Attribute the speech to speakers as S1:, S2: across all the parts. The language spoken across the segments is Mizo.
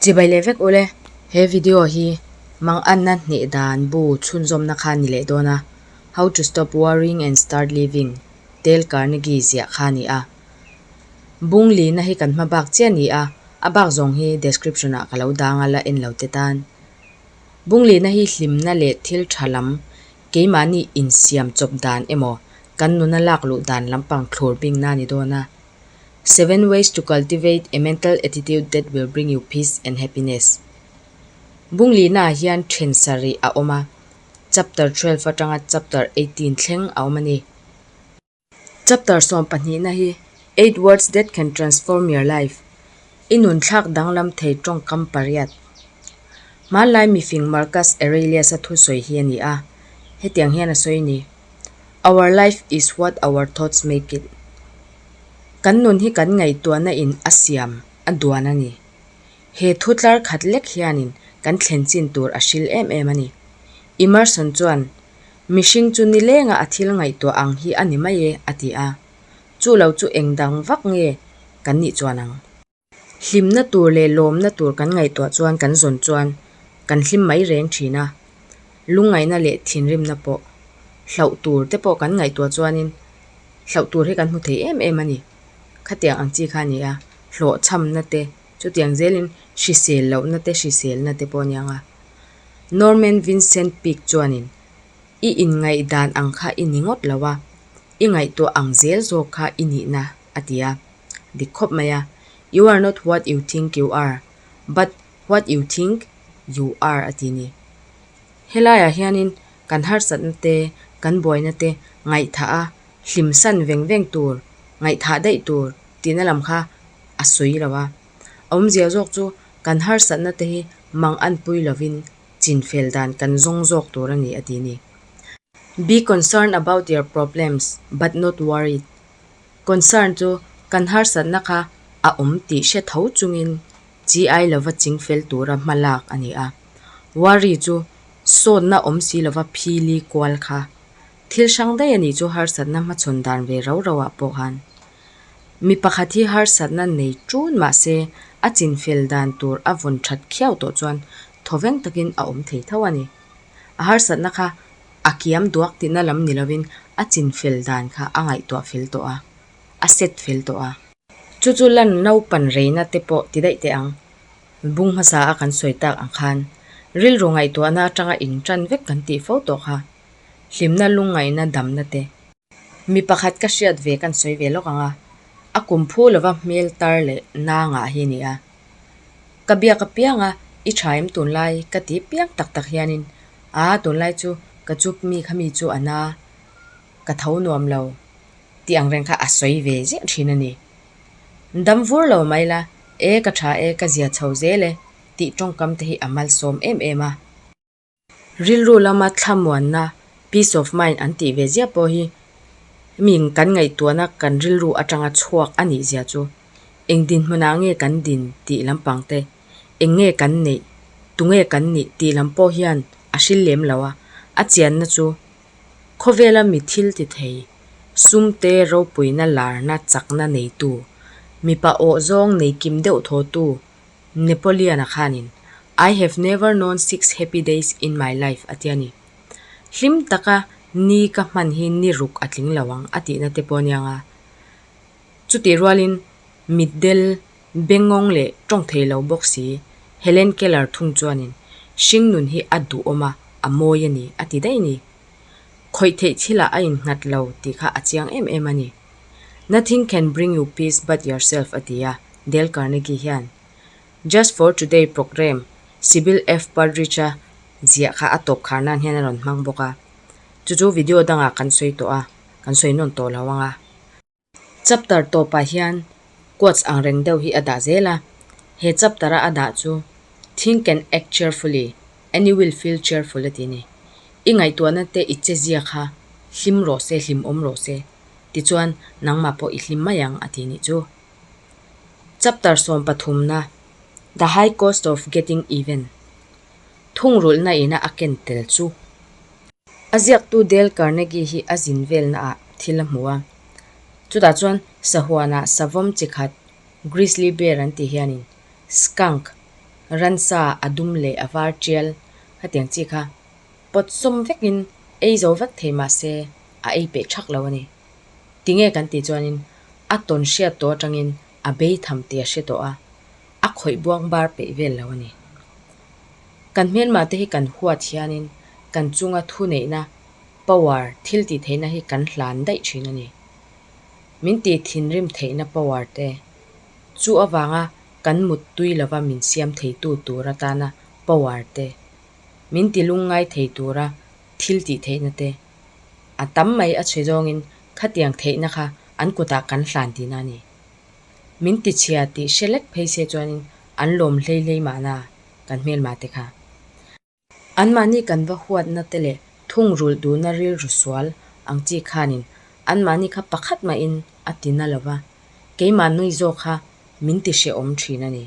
S1: Chibai leh vek ule, he video hi mang anna hneh dan bu chhunzawmna kha ni leh dawn a, How to Stop Worrying and Start Living, Dale Carnegie ziah kha a ni a. Bung lihna hi kan hma bak chiah ni a, a bak zawng hi description ah ka lo dang a la en lo te tan. Bung lihna hi hlimna leh thil tha lam Keimahni insiam chawp dan emaw kan nuna lak luh dan lampang thlur bing na ni dawn a. Seven Ways to Cultivate a Mental Attitude That Will Bring You Peace and Happiness bunglihna ah hian then sarih a awm a, Chapter twelve atanga Chapter eighteen thleng a awm a ni. Chapter sawm pahnihna hi Eight Words That Can Transform Your Life, I Nunthlak Danglam Thei Tawngkam Pariat, Hmanlai Mifing Marcus Aurelius-a thusawi hi a ni a, hetiang hian a sawi a ni, Our life is what our thoughts make it. Kan nun hi kan ngaihtuahna in a siam, a duan a ni. He thu tlar khat lek hianin kan thlen chin tur a hril em em a ni. Emerson chuan Mihring chu ni lenga a thil ngaihtuah ang hi a ni mai e, a ti a. Chu lo chu eng dang vak nge kan nih chuan ang? Hlimna tur leh lawmna tur kan ngaihtuah chuan kan zawn chuan kan hlim mai reng thin a. Lungngaihna leh thinrimna pawh. Hlauh tur te pawh kan ngaihtuah chuanin hlauh tur hi kan hmu thei em em a ni. Khatiang ang chi kha a ni a, hlawhchhamna te, chutiang zelin hrisel lohna te, hriselna te pawh a ni ang a. Norman Vincent Peake chuanin, I inngaihdan ang kha i ni ngawt lo a, i ngaihtuah ang zel zawk kha i nihna, a ti a. Dik khawp mai a, You are not what you think you are, but what you think you are a ti ni. Helaiah hianin kan harsatna te, kan buaina te ngaihthah a hlim san veng veng tur, ngaihthah daih tur tihna lam kha a sawi lo a. A awmzia zawk chu. kan harsatna te hi mang an pui lovin chinfel dan kan zawng zawk tur a ni, a ti ni. Be concerned about your problems, but not worried. Concern chu kan harsatna kha a awm tih hre tho chungin chi ai lova chingfel tura hma lak a ni a. Worry chu sawnna awm si lova phili kual kha. Thil hrang daih a nih chu harsatna hmachhawn dan ve rau rauah pawh han Mi pakhat hi harsatna nei ṭûn mah se, a chinfel dan tûr a vawn ṭhat khiau tawh chuan thawveng takin a awm thei tho a ni. A harsatna kha a kiam duak tihna lam ni lovin a chinfel dan kha a ngaihtuah fel tawh a, a set fel tawh a. Chu chu lan naupan reina te pawh ti daih teh ang. Bung hmasa a kan sawi tak ang khan, rilru ngaihtuahna aṭanga inṭan vek kan tih fo tawh kha, hlimna lungngaihna damna te, Mi pakhat ka hriat ve kan sawi ve lawk ang a, a kum phu lova hmel tar leh nangah hi ni a. Ka biak apiang a, i tha em tunlai ka ti piang tak tak hianin, aa tunlai chu ka chup mi kha mi chu a na, ka tho nuam lo tih ang reng kha a sawi ve ziah thin a ni. Dam vur lo mai la, e ka tha e ka zia chho zel e tih tawngkam te hi a malsawm em em a. Rilru lama thlamuanna, peace of mind, an tih ve ziah pawh hi hming kan ngaihtuahna kan rilru atanga chhuak a nih zia chu eng dinhmunah nge kan din tih lampang te, eng nge kan neih, tunge kan nih tih lam pawh hian a hrilh lem lo a. A chianna chu khawvela mi thil ti thei, sumte ropuina larna chakna neitu, mipa awh zawng nei kim deuh thawtu, Napoleon-a khanin I have never known six happy days in my life a ti a ni. Hlim taka ni ka hman hi ni ruk a tling lo ang a tihna te pawh a niang a. Chutih rualin mitdel bengawng leh tawngthei lo bawk si Helen Keller thung chuanin hringnun hi a duhawm a, a mawi a ni a ti daih a ni. Khawih theih thila a innghat lo tih kha a chiang em em a ni. Nothing can bring you peace but yourself a ti a Dale Carnegie hian. Just for today programme Sibyl F. Partridge-a ziah kha a tawp khar nan hian a rawn hmang bawk a. Chu chu video dangah kan sawi tawh a, kan sawi nawn tawh lo ang a. Chapter tawpah hian Quotes ang reng deuh hi a dah zel a, he chapter-a a dah chu Think and act cheerfully and you will feel cheerful a ti a ni. I ngaihtuahna te i che zia kha hlim rawh se, hlimawm rawh se, tichuan nangmah pawh i hlim mai ang a tih ni chu. Chapter sawm pathumna, The high cost of getting even, Thungrulhna ina a ken tel chu. A ziaktu Dale Carnegie hi a zin velnaah thil a hmu a. Chutah chuan sahuana savam chi khat, grizzly bear an tih hianin skunk, ransa a dum leh a var tial hetiang chi kha pawt sawm vekin ei zo vek thei mahse a ei peh thak lo a ni. Tinge kan tih chuanin a tawn hriat tawh atangin a bei tham tih a hre tawh a, a khawih buang bar peih vel lo a ni. Kan hmelmahte hi kan huat hianin kan chunga thuneihna Power thil tih theihna hi kan hlan daih thin a ni. Min tih thinrim theihna power te chu avanga kan mut tui lova min siam theitu tur atana power te, min ti lung ngai thei tura thil tih theihna te a tam mai a chhe zawngin khatiang theihna kha an kutah kan hlan tihna a ni. Min ti chhia tih hre lek phei se chuanin an lawm hleihleih mahna kan hmelmah te kha. Anmahni kan va huatna te leh thungrulh duhna rilru sual ang chi khanin anmahni kha pakhat mahin a ti na lova, keimah nui zawk kha min ti hre awm thin a ni.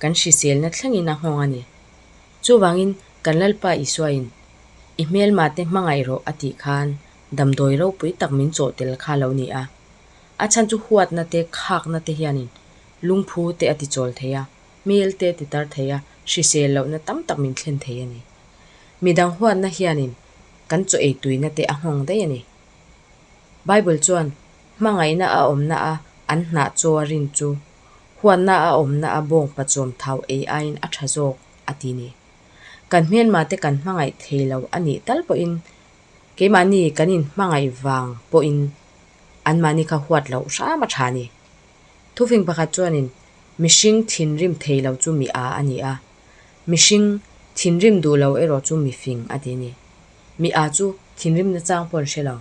S1: Kan hriselna thlengin a nghawng a ni. Chuvangin kan Lalpa Isuain, I hmelmate hmangaih rawh a tih khan damdawi ropui tak min chawh tel kha lo ni a. A chhan chu huatna te, khakna te hianin lungphu te a tichawl thei a, hmelte ti tar thei a, hrisel lohna tam tak min thlen thei a ni. Midang huatna hianin kan chaw ei tuinate a nghawng daih a ni. Bible chuan hmangaihna a awmna a an hnah chaw a rin chu huatna a awmna a bawng pachawm thau ei aiin a tha zawk a ti ni. Kan hmelmate kan hmangaih thei lo a nih tal pawhin keimahni kan inhmangaih vang pawhin anmahni kha huat loh hram a tha a ni. Thufing pakhat chuanin, Mihring thinrim thei lo chu mi a a ni a, mihring thinrim duh lo erawh chu mifing a ti ni. Mi a chu thinrim nachang paw'n hre lo,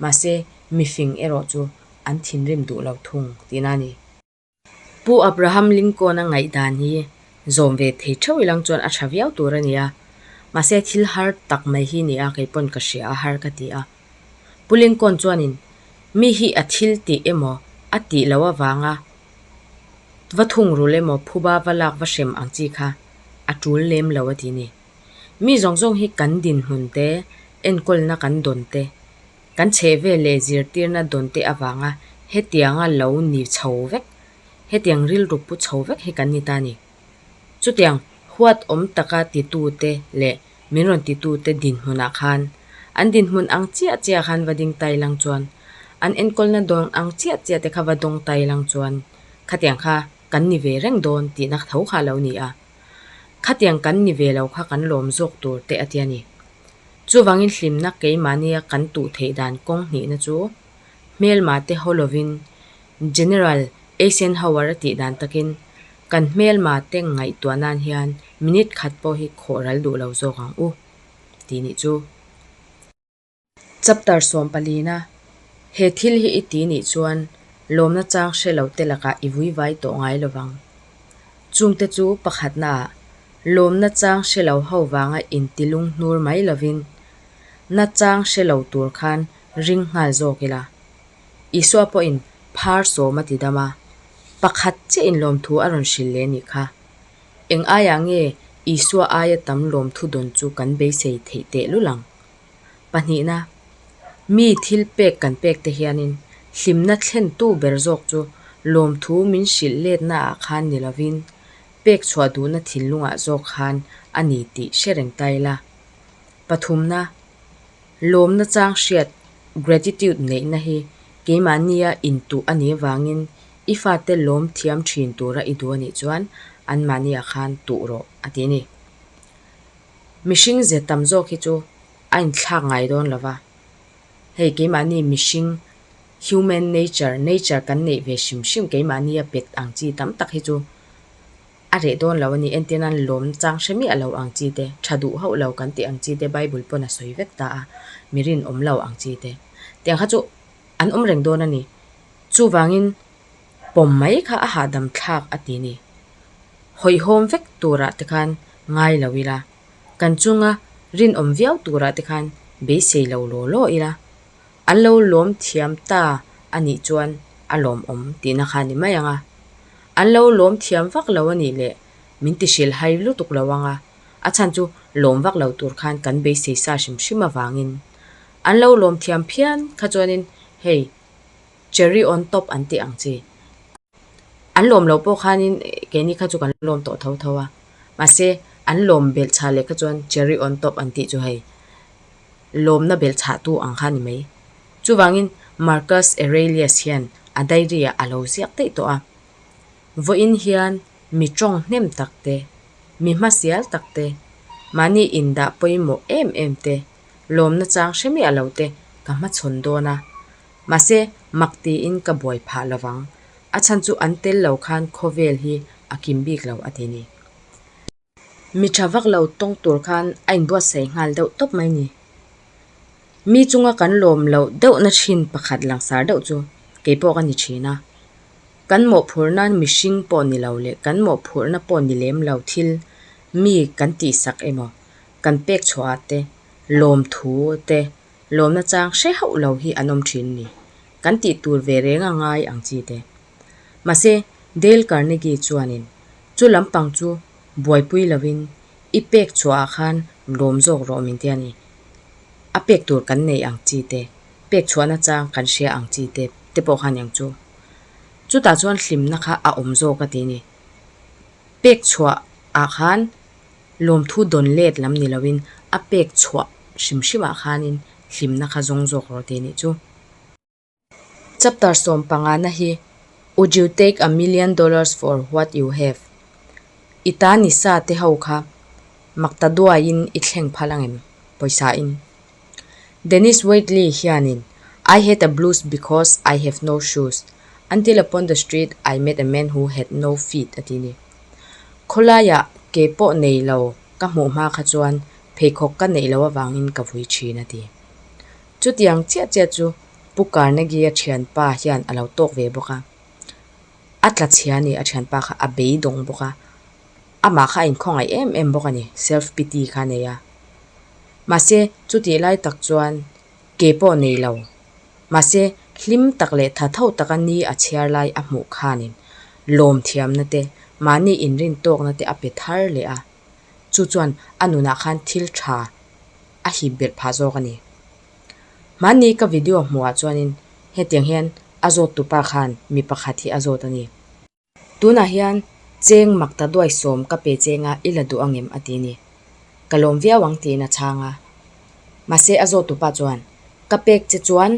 S1: mahse mifing erawh chu an thinrim duh lo thung tihna a ni. Pu Abraham Lincoln-a ngaihdan hi zawm ve thei theuh ilang chuan a tha viau tur a ni a, mahse thil har tak mai hi nia kei paw'n ka hria a har ka ti a. Pu Lincoln chuanin, Mi hi a thil tih emaw, a tih loh avanga va thung rul emaw phuba va lak va hrem ang chi kha a tul lem lo a ti ni. Mi zawng zawng hi kan dinhmun te, enkawlna kan dawn te, kan chhehvel leh zirtirna dawn te avanga hetianga lo ni chho vek, hetiang rilru pu chho vek hi kan ni ta ni. Chutiang huat awm taka titute leh min rawn titute dinhmunah khan an dinhmun ang chiah chiah khan va ding tai lang chuan an enkawlna dawn ang chiah chiah te kha va dawng tai lang chuan khatiang kha kan ni ve reng dawn tih na tho kha lo ni a, khatiang kan ni ve lo kha kan lawm zawk tur te a tia ni. Chuvangin hlimna keimahnia kan tuh theih dan kawng hnihna chu hmelmate haw lovin General Eisenhower a tih dan takin kan hmelmate ngaihtuah nan hian minute khat pawh hi khawh ral duh lo zawk ang u tih nih chu. Chapter sawm palina he thil hi i ti nih chuan lawmna chang hre lo te lakah i vui vai tawh ngai lovang. Chungte chu pakhatnaah lawmna chang hre lo ho vanga inti lunghnur mai lovin nachang hre lo tur khan ring nghal zawk ila, Isua pawhin phar sawm a ti dam a, pakhat chiahin lawmthu a rawn hrilh leh nih kha. Eng aiah nge Isua aia tam lawmthu dawn chu kan beisei theih teh lul ang? Pahnihna, mi thil pek kan pekte hianin hlimna thlentu ber zawk chu lawmthu min hrilh letnaah khan ni lovin, pekchhuah duhna thinlungah zawk khan a ni tih hre reng ta ila. Pathumna. Lawmna chang hriat, Gratitude, neihna hi keimahnia intuh a nih avangin i fate lawm thiam thin tura i duh a nih chuan anmahniah khan tuh rawh a ti a ni. Mihring zia tam zawk hi chu a inthlak ngai dawn lo va, hei keimahni mihring human nature, nature kan neih ve hrim hrim keimahnia pet ang chi tam tak hi chu A reh dawn lo a ni, entir nan lawm chang hre miah lo ang chi te, tha duh hauh lo kan tih ang chi te, Bible pawn a sawi vek ta a, mi rinawm lo ang chi te. Tiang kha chu an awm reng dawn a ni. Chuvangin pawm mai kha a hahdam thlak a ti ni. Hawihhawm vek turah te khan ngai lo ila, kan chunga rinawm viau turah te khan beisei lo law law ila, An lo lawm thiam ta a nih chuan a lawmawm tihna kha ni mai ang a, an lo lawm thiam vak lo a nih leh min tihrilh hai lutuk lo ang a, a chhan chu lawm vak lo tur khan kan beisei sa hrim hrim avangin an lo lawm thiam phian kha chuanin hei cherry on top an tih ang chi. An lawm lo pawh khanin keini kha chu kan lawm tawh tho tho a, mahse an lawm belh chhah leh kha chuan cherry on top an tih chu hei lawmna belh chhah tu ang kha a ni mai. Chuvangin Marcus Aurelius hian a diary-ah a lo ziak daih tawh a, vawiin hian mi ṭawng hnem tak te, mi hmasial tak te, mahni indah pawimawh em em te, lawmna chang hre miah lo te ka hmachhawn dawn a. Mahse, mak tiin ka buai phah lo vang. A chhan chu an tel lo khan khawvel hi a kim bik lo a ti ni. Mi tha vak lo tawng tur khan a inbuatsaih nghal deuh tawp mai ni. Mi chunga kan lawm lo deuhna thin pakhat langsar deuh chu kei pawh ka ni thin a. Kan mawhphurhna mihring pawh ni lo leh kan mawhphurhna pawh ni lem lo thil mi kan tihsak emaw, kan pekchhuah ah te, lawmthu te, lawmna chang hre hauh lo hi an awm thin ni? Kan tih tur ve reng a ngai ang chi te. Mahse, Dale Carnegie chuanin, Chu lampang chu buaipui lovin i pek chhuahah khan lawm zawk rawh min ti a ni. A pek tur kan nei ang chi te, pek chhuahna chang kan hria ang chi te, te pawh kha niang chu. Chutah chuan hlimna kha a awm zawk a ti ni. Pek chhuahah khan lawmthu dawn let lam ni loin a pek chhuah hrim hrimah khanin hlimna kha zawng zawk rawh teh nih chu. Chapter sawm pangana hi Would you take a million dollars for what you have? I ta ni sa te ho kha mak ta duaiin i thleng phalh ang em pawisa in? Dennis Waitley hianin I had a blues because I have no shoes, until upon the street I met a man who had no feet a ti ni. Khawlaia ke pawh nei lo ka hmuh hma kha chuan pheikhawk ka neih lo avangin ka vui thin a ti. Chutiang chiah chiah chu Pu Carnegie-a thianpa hian a lo tawk ve bawk a. a tla chhia nih a thianpa kha a beidawng bawk a, amah kha a inkhawngaih em em bawk a ni, self pity kha a nei a. Mahse, chutih lai tak chuan kei pawh nei lo, mahse hlim tak leh tha tho taka ni a chhiar lai a hmuh khanin lawmthiamna te, mahni inrin tawkna te a pe thar leh a, chu chuan a nunah khan thil tha a hip belh phah zawk a ni. Mahni ka video hmuhah chuanin hetiang hian a zawttu pa khan mi pakhat hi a zawt a ni. Tunah hian cheng mak ta duai sawm ka pe cheng a i la duh angem a ti a ni. Ka lawm viau ang tiin a chhang a. Mahse a zawttu pa chuan, Ka pek che chuan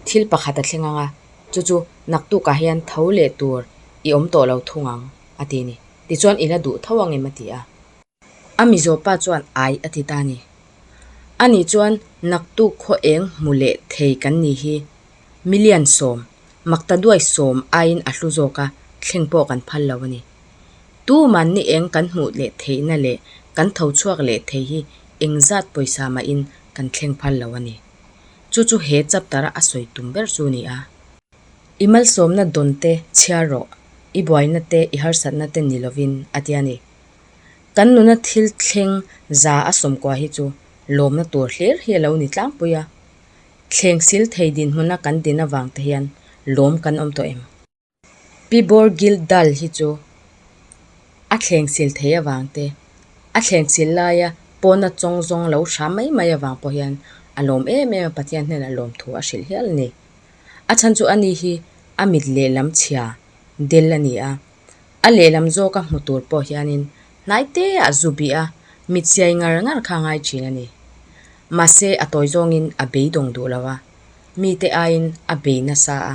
S1: thil pakhat a thleng ang a, chu chu naktukah hian tho leh tur i awm tawh lo thung ang a ti a ni. Tichuan i la duh tho angem a ti a. A Mizo pa chuan ai a ti ta ni. A nih chuan naktu khaw eng hmu leh thei kan nih hi million sawm, makta duai sawm aiin a hlu zawk a, thleng pawh kan phal lo a ni. Tu man ni eng kan hmuh leh theihna leh kan tho chhuak leh thei hi eng zat pawisa mahin kan thleng phal lo a ni. Chu chu he chapter-a a sawi tum ber chu ni a. I malsawmna dawnte chhiar rawh, i buaina te i harsatna te ni lovin a ti a ni. Kan nuna thil thleng za a sawmkuah hi chu lawmna tur hlir hi a lo ni tlangpui a, thleng sil thei dinhmuna kan din avang te hian lawm kan awm tawh em? Pi Bawrgil Dal hi chu a thleng sil thei avang te, a thleng sil laia pawna chawng zawng lo hram mai mai avang pawh hian a lawm em em a, Pathian hnenah lawmthu a hrilh hial a ni. A chhan chu ani hi a mit lehlam chhia del a ni a, a lehlam zawka hmu tur pawh hianin hnai teah zu bih a mi chiai ngar ngar kha a ngai thin a ni. Mahse a tawi zawngin a beidawng duh lo a, mite aiin a bei nasa a,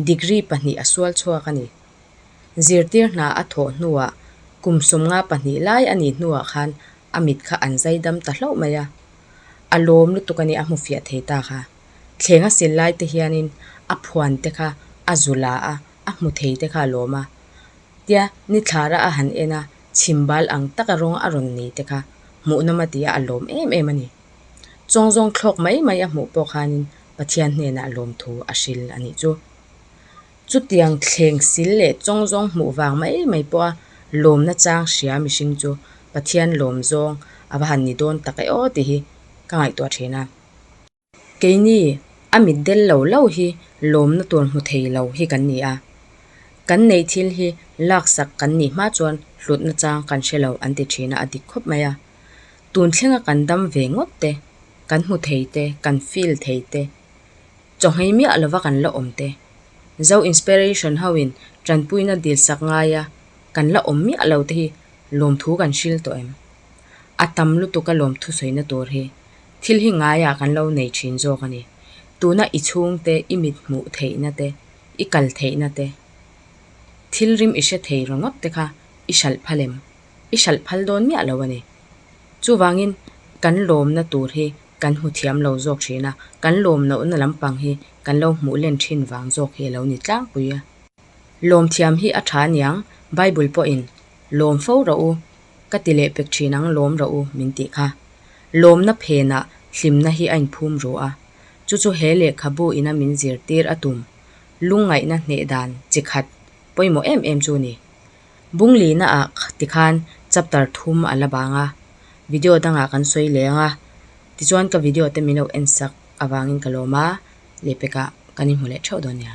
S1: degree pahnih a sual chhuak a ni. Zirtir hna a thawh hnuah kum sumnga pahnih lai a nih hnuah khan a mit kha an zai dam ta hlauh mai a. A lawm lutuk a ni a hmufiah thei ta kha. Thleng a sil laite hianin a phuante kha a zu la a. a hmu thei te kha a lawm a, tia ni thlara a han en a, chhim bal ang taka rawng a rawn nei te kha hmuh nawm a tia a lawm em em a ni. Chawng zawng thlawk mai mai a hmuh pawh khanin Pathian hnenah lawm thu a hrilh a nih chu. Chutiang thleng sil leh chawng zawng hmuh vang mai mai pawha lawmna chang hria mihring chu Pathian lawm zawng a va han ni dawn tak e aw tih hi ka ngaihtuah thin a. Keini a mit del lo lo hi lawmna tur hmu thei lo hi kan ni a, kan neih thil hi laksak kan nih hma chuan hlutna chang kan hre lo an ti thin a, a dik khawp mai a. Tun thlenga kan dam ve ngawt te, kan hmu thei te, kan feel thei te, chawhmei miah lova kan la awm te, Zo inspiration hoin tanpuina dil sak ngaia kan la awm miah lo te hi lawmthu kan hriltawh em? A tam lutuka lawmthu sawina tur hi Thil hi ngaiah kan lo nei thin zawk a ni. Tuna i chhungte, i mithmuh theihna-te, i kal theihna-te, thilrim i hre thei ringawt-te kha i hralh phal em? I hralh phal dawn miah lo a ni. Chuvangin kan lawmna tur hi kan hmu thiam lo zawk thin a, kan lawmloh na lampang hi kan lo hmuh len thin vang zawk hi a lo ni tlangpui a. Lawmthiam hi a tha niang, Bible pawhin, Lawm fo rawh u, ka ti leh pek thin ang lawm rawh u min tih kha. Lawmna phenah hlimna hi a inphum ru a. Chu chu he lehkhabu ina min zirtir a tum lungngaihna hneh dan chi khat pawimawh em em chu ni. Bunglina ah ti khan chapter thum a la bang a, video dangah kan sawi leng a, tichuan ka video te min lo en sak avangin ka lawma lehpekah kan inhmu leh theuh dawn nia.